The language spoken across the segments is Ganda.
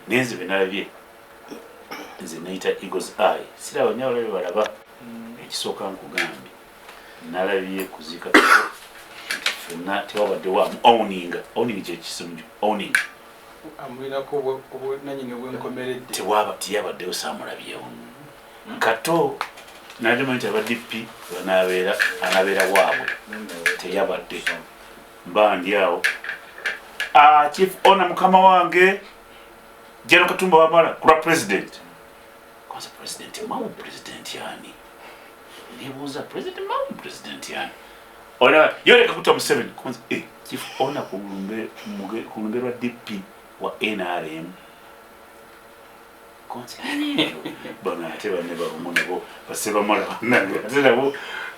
naye nze benalabye nze neyita eagles eye siraba naye abalabe balaba mm. ekisooka nkugambye nalabye kuziika fenna tewabaddewo am owning owning kyekisumju owning amulinako obunanyini obwenkomeredde tewaba tiyabaddewo samulabyewo mm. kato nalima nti abadp banabeera anabeera waabwe teyabadde Bandi awo. Ah, Chief Ona mukama wange. Jeno Katumba Wamala, kura president. Kwanza president, mamu president yani. Ndibuza president, mamu president yani. Ona, yole kakuta Museveni. Kwanza, eh, Chief Ona kulumbe, kulumbe wa DP wa NRM. bano ate banne balumu nabo basebamala banange ate nabo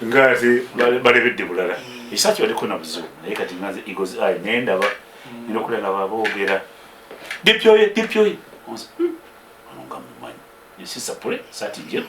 nga ate balebedde bulala eh. ekisaaki baliko nabuzibu naye kati ngaze egos i naye ndaba hmm. nina okulala baboogera dipyoye dipyoye hmm. ono nga mumanyi nsisapule saati njeru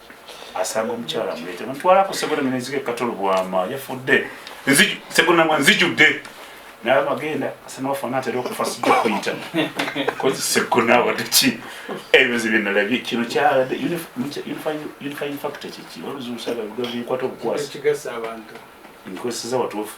asanga omukyala mulete mutwala ku segona ngene nzige katolo bwama yafudde nziju segona mwa nzijudde naye magenda asana wafana atera okufa sijja kuyita kozi segona wadde ki ebyo zibe nalabye kino kyalade unifying factor kiki oluzuusaga bikwata obukwasi nkozeseza watuufu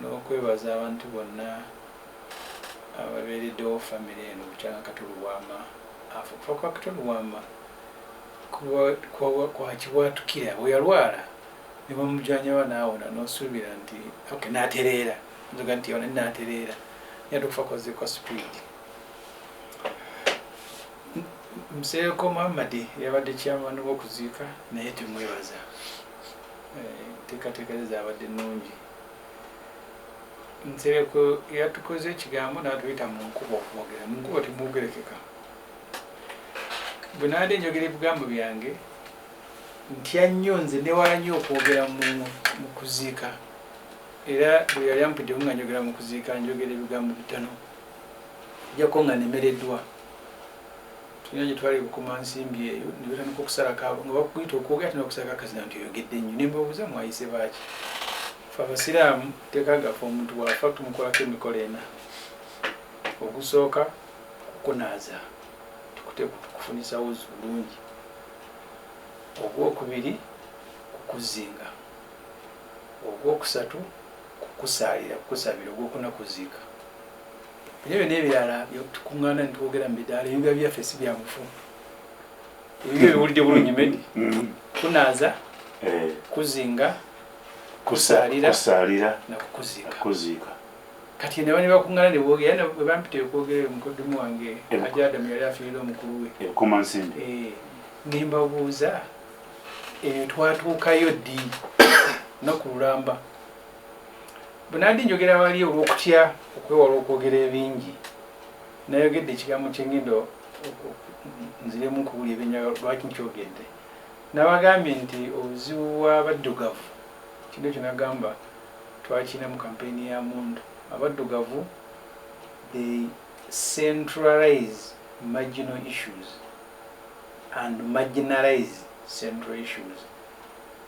n'okwebaza abantu bonna ababeereddewo famire eno bukyanga Kato Lubwama afa. Okufa kwa Kato Lubwama kwakibwatukira, bwe yalwala ne bamujanjaba n'awona n'osuubira nti okay n'atereera, nzoga nti yawona n'atereera naye ate okufa kwazze kwa sipiidi. Nsereko Muhammad yabadde chairman w'okuziika naye temwebaza, enteekateeka ze zaabadde nnungi. nsereko yatukoze ekigambo natuyita mu nkuba okwogera mu nkuba temwogerekeka bwe nabadde njogera ebigambo byange ntya nnyo nze newala nnyo okwogera mu kuziika era bwe yali ampiddewo nga njogera mu kuziika njogera ebigambo bitano ojjako nga nemereddwa tulina gye twali bukuma nsimbi eyo ne batandika okusalako abo nga bakuyita okwogera tena okusalako akazina nti oyogedde nnyo ne mbabuuza mwayise baaki fe abasiraamu teeka gaffe omuntu waafa tumukolako emikolo ena ogusooka kukunaaza tukuteekutukufunisa wuzi bulungi ogwokubiri kukuzinga ogwokusatu kukusaalira kukusabira ogwokuna kuziika Ebyo byonna ebirala tukuŋŋaana ne twogera mu midaala ebibuga byaffe si bya bufu. Ebibyo biwulidde bulungi medi mm-hmm. kunaaza eh. kuzinga kusaalira nakukuziika kati ne bani bakuŋŋaana ne boogera na bwe bampita okwogera eyo mukoddomu wange aja adamu yali afiirira omukulu we eh, ne mbabuuza eyo twatuukayo ddi nakululamba Bwenabadde njogera wali olw'okutya okwewala okwogera ebingi, nayogedde ekigambo kye ngenda nziremu nkubuli ebyenjagala lwaki nkyogedde. Nabagambye nti obuzibu bw'abaddugavu kino ekyo nagamba twakirina mu kampeyini ya mundu abaddugavu they centralize marginal issues and marginalize central issues.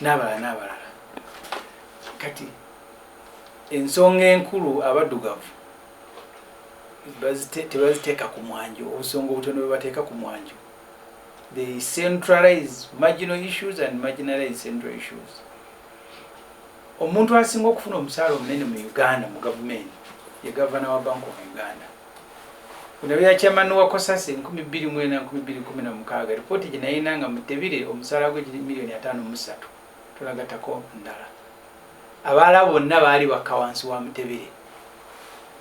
n'abalala n'abalala kati ensonga enkulu abaddugavu tebaziteeka ku mwanjo obusonga obutono bwebateeka ku mwanjo they centralize marginal issues and marginalize central issues omuntu asinga okufuna omusaala omunene mu uganda mu gavumenti ye gavana wa bank of uganda Bino bya chairman wa Kosasi 2004-2016 lipooti gye nayina nga mutebire omusaala gwe giri miliyoni ataano mu ssatu tulagatako ndala abaala bonna baali bakka wansi wa mutebire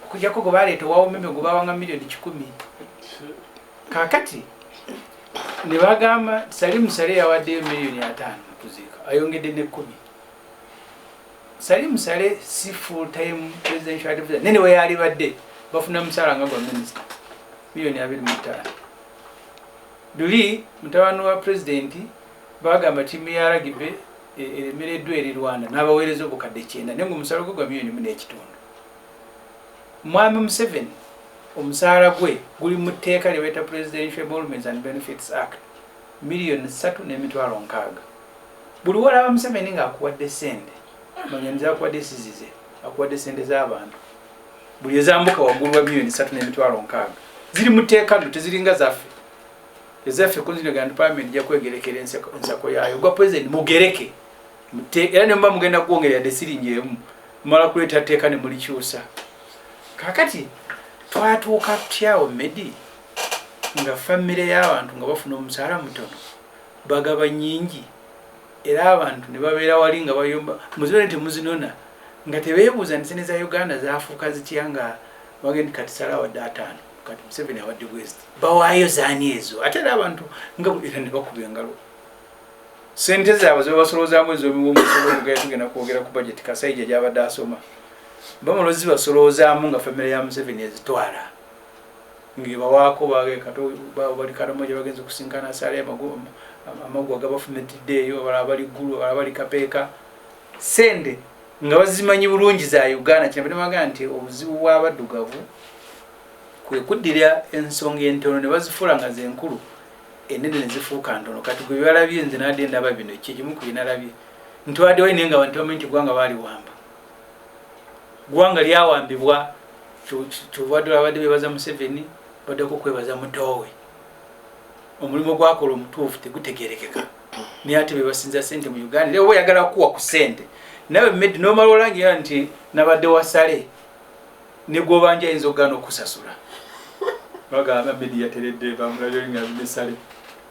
okujjako gwe baleeta owa umeme gwe bawanga miliyoni kikumi kakati ne bagamba sali musale yawaddeyo miliyoni ataano okuziika ayongedde n'ekkumi Salim Saleh si full time presidential advisor nene we yali badde bafuna musala nga gwa minister milioni abiri mu ttaano luli mutabani wa president bagamba tiimu ya ragibe eremereddwa eri rwanda n'abaweereza obukadde kyenda naye nga omusala gwe gwa milioni mu n'ekitundu mwami museveni omusaala gwe guli mu tteeka lye bayita presidential emoluments and benefits act miliyoni ssatu n'emitwalo nkaaga Buli wolaba Museveni nga akuwadde sente manya nzakuwadde sizize akuwadde sente z'abantu buli ezambuka waggulu wa miliyoni satu n'emitwalo nkaaga ziri mu tteeka nno teziringa zaffe ezaffe kunzinagana palamenti ja kwegerekera ensako yaayo gwa pulezidenti mugereke era nemuba mugenda kwongera yadde siringi emu mumala kuleeta tteeka ne mulikyusa kakati twatuuka tutyawo medi nga famire y'abantu nga bafuna omusaala mutono bagaba nyingi era abantu ne babeera wali nga bayomba muzino ne temuzinona nga tebeebuuza nti sente za uganda zaafuuka zitya nga wage nti kati sala awadde ataano kati museveni awadde bweziti bawaayo zaani ezo ate era abantu nga era ne bakuba engalo sente zaabwe zebabasoloozamu ezomuwomusolo ogugenda tugenda kwogera ku bajeti kasaija gyabadde asoma bamulozi basoloozaamu nga famire ya museveni ezitwala ngebawaako bage kati babo bali karamoja bagenze kusinkana sale amagu agabafumitidde eyo abalala bali ggulu abalala bali kapeeka sente nga bazimanyi bulungi za uganda kinabadde baga nti obuzibu bw'abaddugavu kwe kuddira ensonga entono ne bazifuula nga zenkulu enene ne zifuuka ntono kati gwe byalabye nze nadde ndaba bino ekyo kimu ku byenalabye ntwadewayo naye nga bantu bamanyi nti gwanga baaliwamba gwanga lyawambibwa kyovadde abadde bebaza museveni baddeko kwebaza mutoowe omulimu gwakola omutuufu tegutegerekeka naye ate bebasinza sente mu uganda era oba oyagala kukuwa ku sente nawe med nomala olangira nti nabadde wasale negwobanja ayinza okugana okusasula bagamba medi yateredde bamulayolinga binesale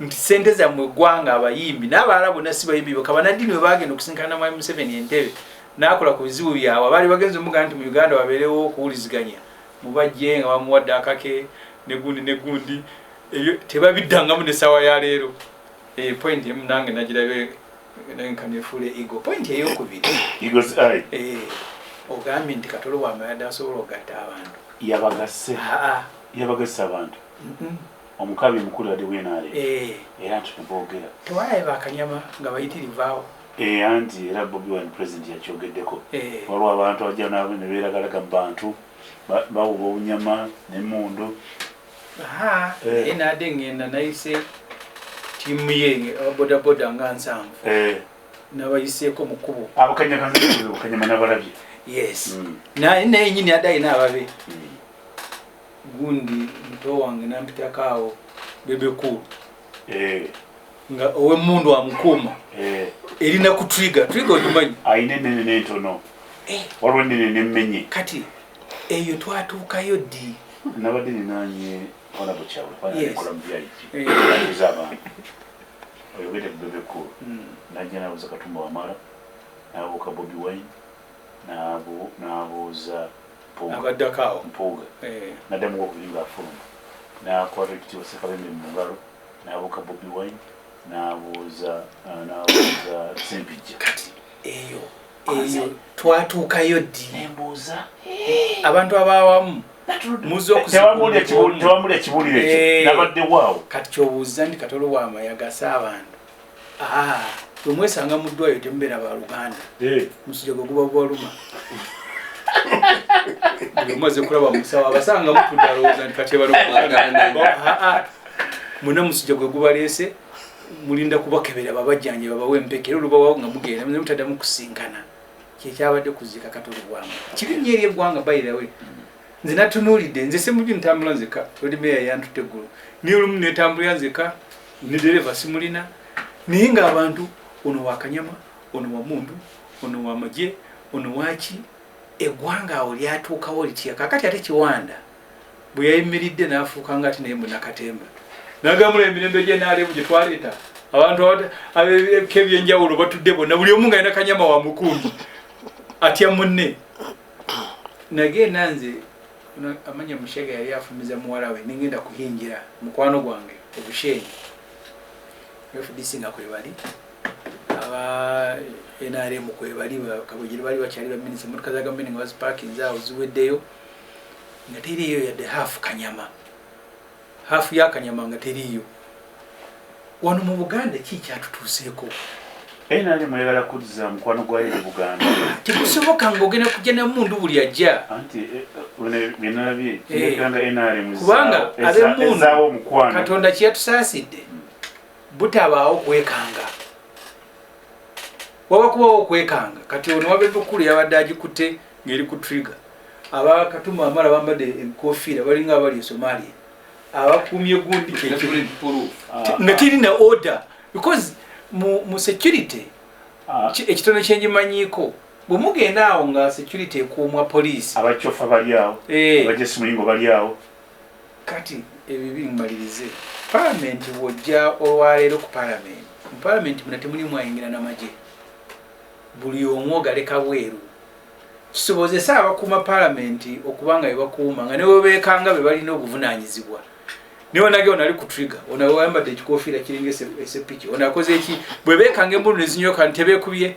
nti sente zammwe eggwanga abayimbi n'abalala bonna si bayimbi boka banaddiini bwe bagenda okusinkana mwami museveni entebe n'akola ku bizibu byabwe abaali bagenza omugana nti mu uganda wabeerewo okuwuliziganya mubajje nga bamuwadde akake negundi negundi ebyo tebabiddangamu nessaawa ya leero eh, point emu nange nagirabe nkanefuula ego point eyokubiri eh, ogambye nti katolo wamayadde asobola okugatta abantu yabagasse yabagasse abantu Omukabi mukulu yade we NRM eh. era nti nebogera tewalabe bakanyama nga bayitirivaawo eh, anti era Bobi Wine president yakyogeddeko eh. waliwo abantu abajja nabo neberagalaga mu bantu bawuba obunyama nemundu naye nade ngenda nayise tiimu ye ababodaboda nga nsanvu nabayiseeko mu kkubo abakanyakanyama nabalabye yes mm. naye nyini adayi nababe mm. gundi muto wange nampitako awo bebe cool eh. nga owemundu amukuuma eh. erina ku triga triga ogimanyi ayina enene nentono eh. waliwo enene nemenye kati eyo twatuukayo ddi nabadde ninanye olabo kyawe kwanikola mubyayiki eza abantu oyogede bebe cool hmm. najja nabuza katumba wamala nabuuka bobi wine nabuuza abaddako awo mpuuga eh. nadda mugo okuyimba afuluma nakwata ekitiibwa sekabembe mu ngalo nabuuka bobi wine nabuuza ah, nabuuza sempijja kati eyo eyo twatuukayo ddi nembuuza eh. abantu abaawamu tewamuli ekibuulire ekyo eh. nabadde waawo kati kyobuuza nti katolo wamayagasa abantu bwemwesanga mu ddwayo temubeera ba luganda eh. musija gwe guba gwaluma omaze kulaba musawo abasanga mutudalowooza nti katebalaa muna musija gwe gubaleese mulinda kubakebera babajjanje babawe empeke era olubawawo nga mugenda muze mutaddamu kusinkana kyekyabadde kuzika katolo bwamu kibi nyo eri eggwanga bayirawe nze natunuulidde nze semuju ntambula nzeka oli meya yantutte eggulu naye olumu netambulira nzeka ne dereva simulina naye nga abantu ono wakanyama ono wamundu ono wamaje ono waki egwanga awo lyatuukawo litya kakati ate kiwanda bwe yayimiridde n'afuuka nga ati naye munakatemba nagamula emirembe gye naalemu gye twaleeta abantu abebika ebyenjawulo batudde bonna buli omu nga yina kanyama wa mukundi atya munne nagenda nze Ono amanya mushega yali afumiza muwala we nengenda kuhingira mukwano gwange obushenyi fdc nga kwebali aba nrm kwebali kabujiri bali bakyali baminisa motoka za gavumenti nga bazipakinze awo ziweddeyo nga teriiyo yadde hafu kanyama Half ya kanyama nga teriiyo wano mu Buganda ki kyatutuuseeko? NRM mweyagala kuzza mukwano gwayo eri Buganda. Tekusoboka ng'ogenda kujja na mundu buli ajja. Anti eh, eh, bino byenalabye kirekanga eh, NRM kubanga ab'emmundu mukwano Katonda kye yatusaasidde butabaawo kwekanga. waba kubawo okwekanga kati ono wabeva okukulu yabadde agikutte ngeri ku trigger abakatuma amala bambadde enkofiira balinga abali esomalia abakumye gundi nga tiri ne order because mu security ah. ekitono kyenjimanyiiko bwemugenda awo nga security ekuumwa poliisi abacofa baliawo eh. abajesimuyingo baliawo Kati ebibi mmalirize palamenti bw'ojja olwaleero ku palamenti mu palamenti muna temuli mwayingira namagye buli omu ogaleka bweru kisobozese abakuuma palamenti okuba nga bebakuuma nga newebeekanga be balina obuvunaanyizibwa naye onage onali ku trigger onawayambadde ekikofiira kiringa esepiki onakoze eki bwe beekanga embulu nezinyoka nti tebeekubye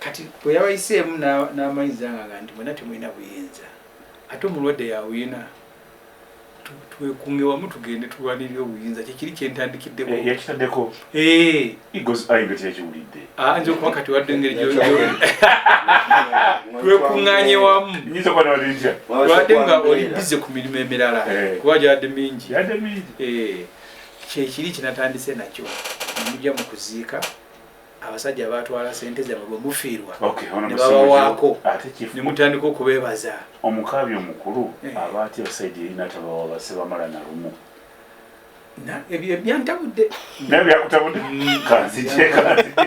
kati bwe yabayiseemu n'amanyiza nga nga nti mwena temulina buyinza ate omulwadde yawina twekunge wamu tugende tulwanirira obuyinza kyekiri kyentandikiddekoyakitaddeko eh, eh. ah, nze okuba kati wadde engeri twekunganye wamu lwadde nga oli bize ku mirimu emirala eh. kuba gyadde mingi kyekiri kyenatandise nakyo mujja mu kuziika abasajja batwala sente zabwe bwe mufiirwa ne babawaako ne mutandika okubeebaza omukaabi omukulu eh. aba atya saidi erina tabawa basebamala na lumu ebyantabudde naye byakutabudde kanzije kanzije